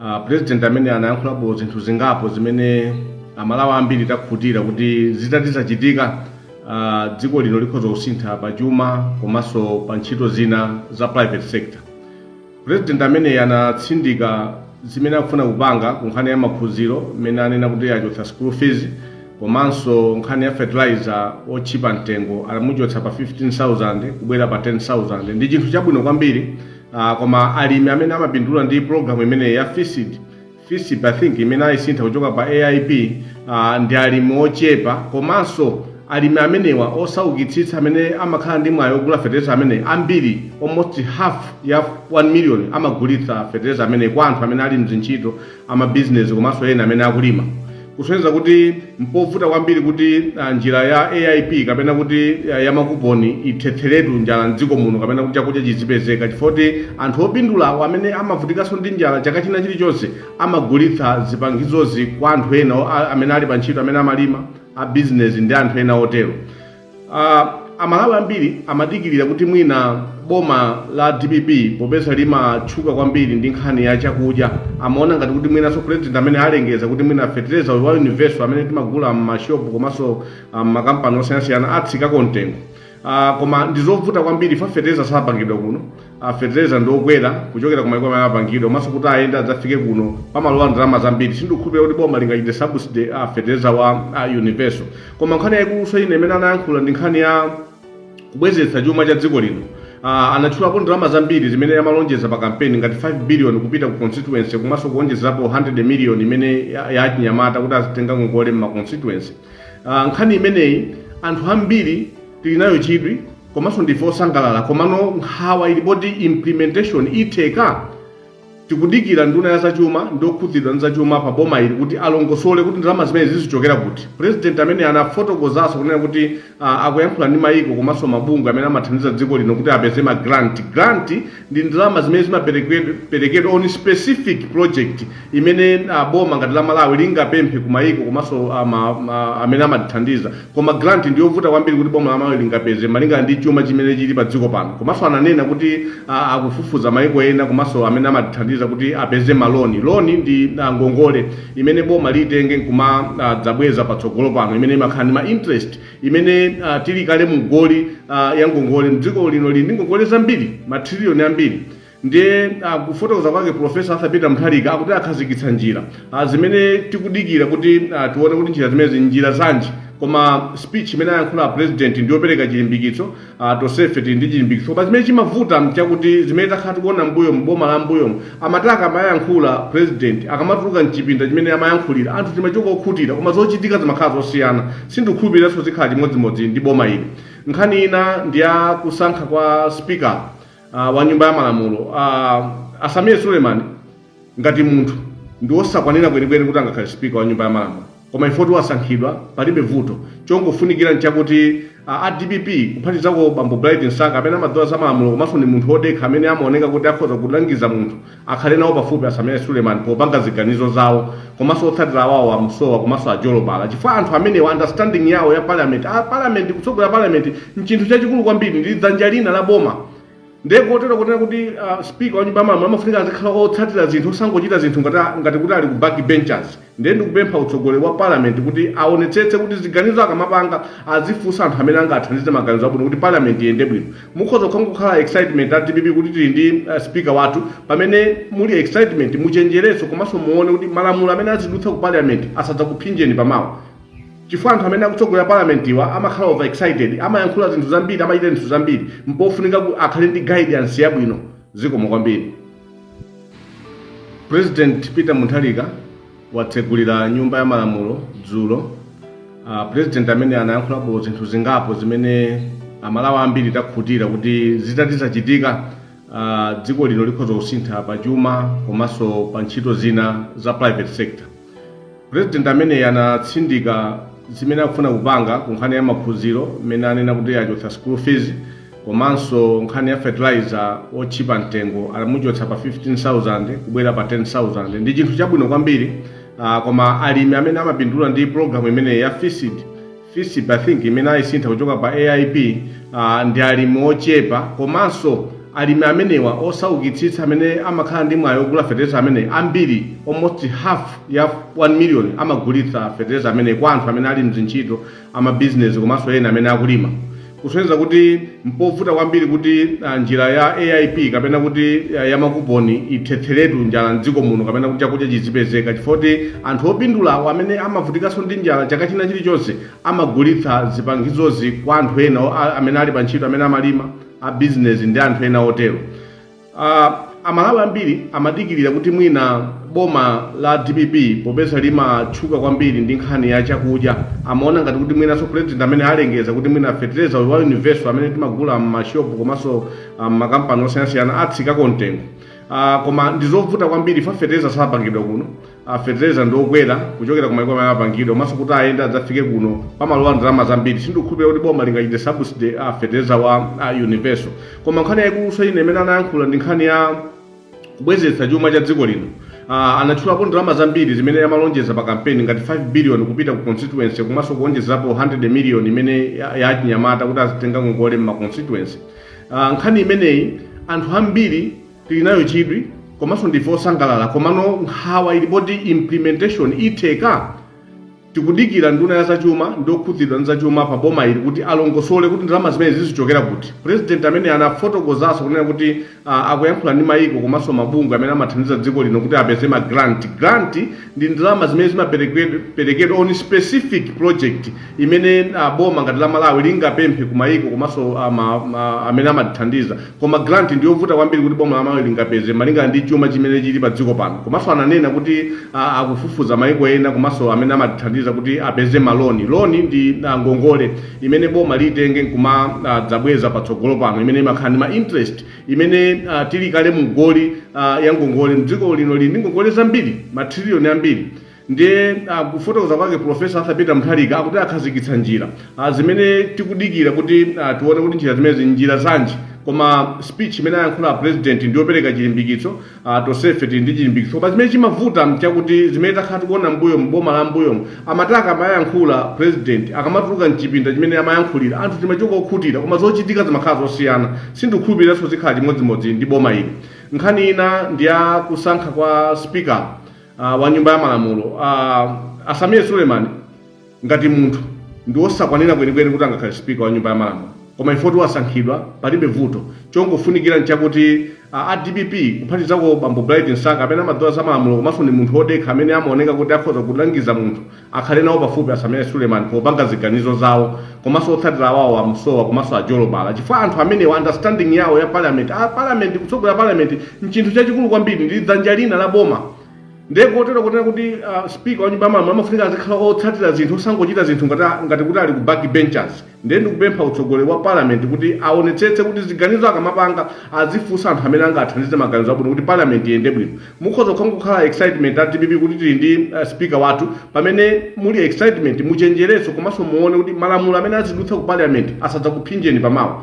Uh, president amene anayankhulapo zinthu zingapo zimene amalawi ambiri takhutira kuti zitati zachitika uh, dziko lino likhoza kusintha pa chuma komanso pa ntchito zina za private sector president amene anatsindika zimene akufuna kupanga ku nkhani ya maphunziro mmene anena kuti achotsa school fees komanso nkhani ya fertilizer otchipa mtengo adamuchotsa pa 15000 kubwera pa 10000 ndi chinthu chabwino kwambiri Ah, koma alimi amene amapindula ndi program imeneyi ya fisip fisip i think imene ayisintha kuchoka pa aip ah, ndi alimi ochepa komanso alimi amenewa osaukitsitsa amene amakhala ndi mwayi ogula fetereza ameneyi ambiri almost half ya 1 million amagulitsa fetereza ameneyi kwa anthu amene ali mzintchito amabizinesi komanso ena amene akulima kusonyeza kuti mpovuta kwambiri kuti ah, njira ya aip kapena kuti ah, ya makuponi ithetseretu njala mdziko muno kapena kuti chakudya chizipezeka chifukwa kuti anthu opindula amene amavutikanso ndi njala chaka china chilichonse amagulitsa zipangizozi kwa anthu ena o- a- amene ali pa ntchito amene amalima a bizinesi ndi anthu ena otero Uh, amalawi ambiri amadikirira kuti mwina boma la dpp popeza limatchuka kwambiri ndi nkhani ya chakudya amaona ngati kuti mwinanso president ameneyi alengeza kuti mwina fetereza uyu wa universal amene timagula m'mashopu komanso ah, m'makampani osiyanasiyana atsikeko mtengo uh, koma ndizovuta kwambiri fa fetereza sapangidwa kuno a fertilizer ndi okwera kuchokera ku maiko amene apangidwa komanso kuti ayende adzafike kuno pamalowa ndalama zambiri sindikukhulupirira kuti boma lingachite subsidy a fertilizer wa a universal koma nkhani yaikulunso ine imene anayankhula ndi nkhani ya kubwezeretsa chuma cha dziko lino uh, anatchulapo ndalama zambiri zimene amalonjeza pa kampeni ngati 5 billion kupita ku constituency komanso kuonjezerapo 100 million imene ya- ya achinyamata kuti azitenga ngongole mma constituency uh, nkhani imeneyi anthu ambiri tili nayo chidwi komanso ndife osangalala komano nkhawa ili poti implementation itheka tikudikira nduna ya zachuma ndi okhudzidwa ndi zachuma pa boma ili kuti alongosole kuti ndalama zimenezi zizichokera kuti president ameneyi anafotokozanso kunena kuti ah, akuyankhula ndi mayiko komanso mabungwe amene amathandiza dziko lino kuti apeze ma grant grant ndi ndalama zimene zimaperekedwa on specific project imene uh, boma ngati la malawi lingapemphe ku mayiko komanso uh, ma- ma- amene amatithandiza koma grant ndi yovuta kwambiri kuti boma la malawi lingapeze malingana ndi chuma chimene chili pa dziko pano komanso ananena kuti uh, akufufuza mayiko ena komanso amene amatithandiza kuti apeze maloni loni ndi uh, ngongole imene boma limatenga nkumadzabweza uh, patsogolo pano imene imakhala ndi ma interest imene uh, tili kale mu goli uh, ya ngongole dziko lino lili ndi ngongole zambiri matriliyoni ambiri ndiye uh, kufotokoza kwake profesa arthur peter mutharika akuti akhazikitsa njira uh, zimene tikudikira kuti uh, tione kuti njira zimenezi ndi njira zanji koma speech imene ayankhula a president ndiyopereka chilimbikitso Uh, tonsefe tili ndi chilimbikitso koma chimene chimavuta nchakuti zimene takhala tikuona mbuyo boma la mbuyo amati akamayankhula president akamatuluka mchipinda chimene amayankhulira anthu timachoka okhutira koma zochitika zimakhala zosiyana sindikukhulupiriranso zikhala chimodzimodzi ndi boma ili nkhani ina ndi ya kusankhidwa kwa speaker uh, wa nyumba ya malamulo uh, a Sameer Suleman ngati munthu ndi osakwanira kwenikweni kuti angakhale speaker wa nyumba ya malamulo Koma ife poti wasankhidwa palibe vuto. Chongofunikira nchakuti a a dpp kuphatizako bambo Bright Msaka amene amadziwa za malamulo komanso ndi munthu odekha amene amaoneka kuti akhoza kulangiza munthu akhale nawo pafupi a Sameer Suleiman popanga ziganizo zawo komanso otsatira awowa a Musowa komanso a Jolobala chifukwa anthu amenewa understanding yawo ya parliament a parliament kutsogolera parliament nchinthu chachikulu kwambiri ndi dzanja lina la boma ndiye pofunikira kuonera kuti uh, speaker wa nyumba ya malamulo amafunika azikhala otsatira zinthu osangochita zinthu ngati, ngati kuti ali ku back benchers ndiye ndikupempha utsogoleri wa parliament kuti aonetsetse kuti ziganizo akamapanga azifunsa anthu amene angathandize maganizo abwino kuti parliament iyende bwino mukhoza kukha- kukhala excitement a dpp kuti tili ndi uh, speaker wathu pamene muli excitement muchenjereso komanso muone kuti malamulo amene azidutsa ku parliament asadzakuphinjeni pamawa Chifukwa anthu amene akutsogolera parliament-wa amakhala over excited, amayankhula zinthu zambiri, amachita zinthu zambiri, mpofunika akhale ndi guidance yabwino. Zikomo kwambiri. President Peter Mutharika watsegulira nyumba ya malamulo dzulo. Uh, president ameneyi anayankhulapo zinthu zingapo zimene amalawi ambiri takhutira kuti zitati zachitika uh, dziko lino likhoza kusintha pa chuma komanso pa ntchito zina za private sector. President ameneyi anatsindika zimene akufuna kupanga ku nkhani ya maphunziro mmene anena kuti achotsa school fees komanso nkhani ya fertilizer otchipa mtengo anamuchotsa pa 15000 kubwera pa 10000 ndi chinthu chabwino kwambiri uh, koma alimi amene amapindula ndi programu imeneyi ya FISP Fisp I think imene ayisintha kuchoka pa AIP uh, ndi alimi ochepa komanso alimi amenewa osaukitsitsa amene amakhala ndi mwayi ogula fetereza ameneyi ambiri almost half ya 1 million amagulitsa fetereza ameneyi kwa anthu amene ali mzintchito amabizinesi komanso ena amene akulima kusonyeza kuti mpovuta kwambiri kuti ah, njira ya aip kapena kuti ah, ya makuponi ithetheretu njala mdziko muno kapena kuti chakudya chizipezeka chifukwa choti anthu opindulawo amene amavutikanso ndi njala chaka china chilichonse amagulitsa zipangizozi kwa anthu ena o- a- amene ali pa ntchito amene amalima a bizinesi ndi anthu ena otero Uh, amalawi ambiri amadikirira kuti mwina boma la dpp popeza limatchuka kwambiri ndi nkhani ya chakudya amaona ngati kuti mwinanso president ameneyi alengeza kuti mwina fertilizer wa universal amene timagula m'mashopu komanso ah, m'makampani osiyanasiyana atsikako mtengo uh, koma ndizovuta kwambiri chifukwa fertilizer sapangidwa kuno a fetereza ndi okwera kuchokera kumaiko amene amapangidwa komanso kuti ayende adzafike kuno pamalowa ndalama zambiri sindikukhulupirira kuti boma lingachite subsidy a fetereza wa a universal koma nkhani yaikuluso ina imene anayankhula ndi nkhani ya kubwezeretsa chuma cha dziko lino uh, anatchulapo ndalama zambiri zimene amalonjeza pa kampeni ngati 5 billion kupita ku constituency komanso kuonjezerapo 100 million imene ya- ya achinyamata kuti azitenga ngongole mma constituency uh, nkhani imeneyi anthu ambiri tili nayo chidwi komanso ndife osangalala komano nkhawa ili poti implementation itheka tikudikira nduna ya zachuma ndi okhudzidwa ndi zachuma pa boma ili kuti alongosole kuti ndalama zimenezi zichokera kuti president amene anafotokozanso kunena kuti uh, akuyankhula ndi mayiko komanso mabungwe amene amathandiza dziko lino kuti apeze ma grant grant ndi ndalama zimene zimaperekedwa on specific project imene uh, boma ngati la Malawi lingapemphe kumayiko komanso uh, ma- ma- amene amatithandiza koma grant ndi yovuta kwambiri kuti boma la Malawi lingapeze malingana ndi chuma chimene chili pa dziko pano komanso ananena kuti uh, akufufuza mayiko ena komanso amene amatithandiza kuti apeze maloni loni ndi uh, ngongole imene boma litenge nkumadzabweza patsogolo pano imene imakhala ndi ma interest imene uh, tili kale mu goli uh, ya ngongole mdziko lino lili ndi ngongole zambiri matriliyoni ambiri ndiye uh, kufotokoza kwake profesa arthur peter mutharika akuti akhazikitsa njira uh, zimene tikudikira kuti uh, tione kuti njira zimenezi njira zanji koma speech imene alankhula a president ndiyopereka chilimbikitso Uh, tonsefe tili ndi chilimbikitso koma zimene chimavuta mchakuti zimene takhala tikuona mbuyo mboma la mbuyo amataka amayankhula president akamatuluka mchipinda chimene amayankhulira anthu timachoka okhutira koma zochitika zimakhala zosiyana ndikukhulupiriranso zikhala chimodzimodzi ndi boma ili nkhani ina ndi ya kusankha kwa speaker uh, wa nyumba ya malamulo uh, a Sameer Suleman Ngati munthu ndiwosakwanira kwenikweni kuti angakhale speaker wa nyumba ya malamulo koma chifukwa kuti wasankhidwa palibe vuto chongofunikira nchakuti a dpp kuphatikizako bambo Bright Msaka amene amadziwa za malamulo komanso ndi munthu wodekha amene amaoneka kuti akhoza kulangiza munthu akhale nawo pafupi a Sameer Suleman popanga ziganizo zawo komanso otsatira awawo a Musowa komanso a Jolobala chifukwa anthu amenewa understanding yawo ya parliament a parliament kutsogolera parliament nchinthu chachikulu kwambiri ndi dzanja lina la boma ndiye kotero kunena kuti uh, speaker wa nyumba ya malamulo amafunika azikhala otsatira zinthu osangochita zinthu ngati, ngati kuti ali ku back benchers ndiye ndikupempha utsogoleri wa parliament kuti aonetsetse kuti ziganizo akamapanga azifunsa anthu amene angathandize maganizo abwino kuti parliament iyende bwino mukhoza kukhala kukhala excitement a dpp kuti tili ndi uh, speaker wathu pamene muli excitement muchenjereso komanso muone kuti malamulo amene azidutsa ku parliament asadzakuphinjeni pamawa